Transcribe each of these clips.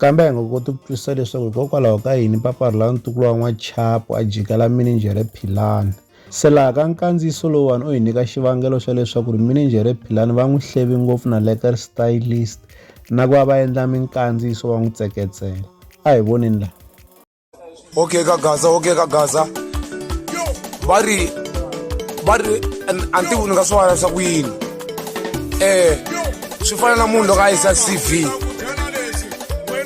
Kambe hi nga koti ku twisisa leswaku hikokwalaho ka yini papa rhula ntukulu wa n'wachapo a jikela mininjhere Philani. Se laha ka nkandziyiso lowuwani u hi nyika xivangelo xa leswaku ri mininjhere Philani va n'wi hleve ngopfu na lekker stylist na ku va va endla minkandziyiso va n'wi tseketsela. A hi voneni laha. okay ka gaza okay ka gaza va ri va ri a ni tivi ni nga swi vona swa ku yini um swi fana na munhu loko a yisa c v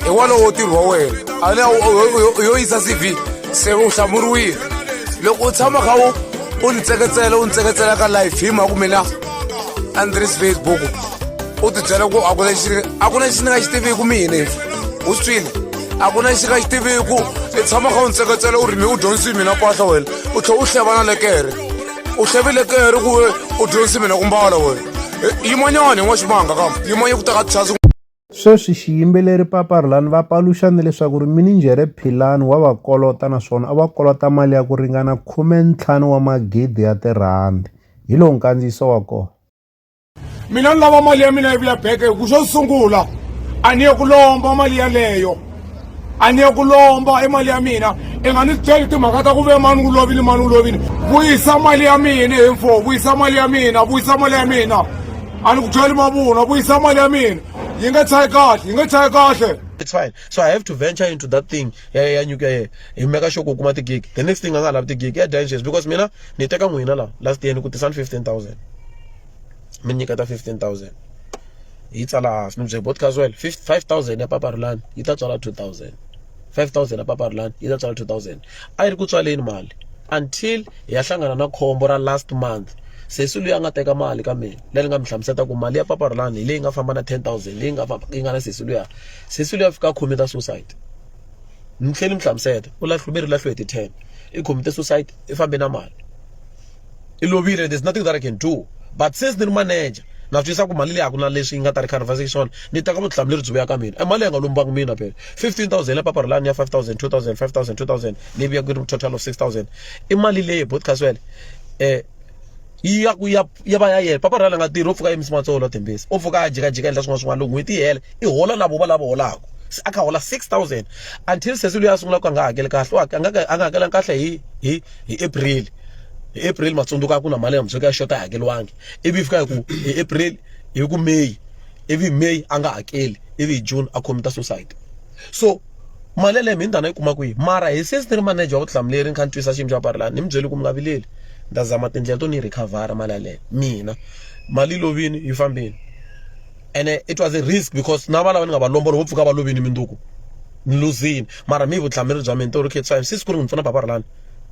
hi wona wo tirhi wa wena a ne yo yisa c v se u hlamuriwile loko u tshama kha u u ni tseketsela u ni tseketsela ka life hi mhaka mina a ni tirhisi facebook u tibyela ku a ku na lexi a ku na lexi ni nga xi tiviku mina u swi twile a ku na lexi nga xi tiviku i tshama kha u ndzi tseketsela u ri mi u dyondzisi hi mina pahla wena u tlhela u hlevana lekere u hlevile kere ku we u dyondzisi mina ku mbala wena yimanyani n'wa ximanga kambe yimanye ku teka tichasi sweswi xiyimbeleri papa rulani va paluxane leswaku ri mininjhere philani wa va kolota naswona a va kolota mali ya ku ringana khume ntlhanu wa magidi ya tirhandi hi lowu nkandziyiso wa kona mina ni lava mali ya mina yi vuya beke hi ku xo sungula a ni ye ku lomba mali yaleyo a ni ye ku lomba i mali ya mina i nga ni byeli timhaka ta ku ve mani ku lovile mani ku lovile vuyisa mali ya mina hi mfo vuyisa mali ya mina vuyisa mali ya mina a ni ku byeli mavunwa vuyisa mali ya mina yi nge tshayi kahle yi nge tshayi kahle it's fine so i have to venture into that thing ya ya nyuka ye hi meka sure ku kuma tigig the next thing a nga ha lavi tigig ya dya inches because mina ni teka n'wina la last year ni ku tisa ni fifteen thousand mi nyiketa fifteen thousand yi tsala hansi ni byela Botkaz wehe five thousand ya papa Rhulani yi ta tswala two thousand five thousand ya papa Rhulani yi ta tswala two thousand a yi ri ku tswaleni mali until hi ya hlangana na khombo ra last month sesi loyi a nga teka mali ka mina leri nga mi hlamusela ku mali ya papa Rhulani hi leyi nga famba na ten thousand leyi nga yi nga na sesi luya sesi luya fika a khome ta suicide ni tlhela ni mi hlamusela u lahluveri lahliwe hi ti ten i khome ta suicide i fambe na mali. i lovile there's nothing that i can do but since ni ri manager na swi twisisa ku mali leyi a ku na leswi yi nga ta ri conversation swona ni teka vutihlamuleri byi vuya ka mina e mali ya nga lombangi mina phela fifteen thousand ya papara lani ya five thousand two thousand five thousand two thousand leyi vuya ku ri total of six thousand i mali leyi both caswell um yi ya ku ya ya va ya yena papa rhala nga tirhi u pfuka yimisi matsolo tembisi u pfuka a jikajika endla swin'wana swin'wana loko n'hweti yi hela i hola na vova lava holaka se a kha hola six thousand until sesi loyi a sungula ku a nga hakeli kahle a nga a nga hakelanga kahle hi hi hi april hi april matsundzuka a ku na mali ya mundzuku ya xota a yi hakeriwangi ivi yi fika hi ku hi april hi ku may ivi may a nga hakeli ivi hi june a commita suicide so mali yaleyo mi ndana yi kuma kwihi mara hi since ni ri manager wa vutihlamuleri ni kha ni twisa xiyimo xa parlani ni mi byeli ku mi nga vileli ni ta zama tindlela to ni yi recover mali yaleyo mina mali yi lovini yi fambini ene it was a risk because na valava ni nga va lombolo vo pfuka va lovini minduku ni luzini mara mi vutihlamuleri bya mina to ri khetsa hi siku ri n'wi pfuna paparlani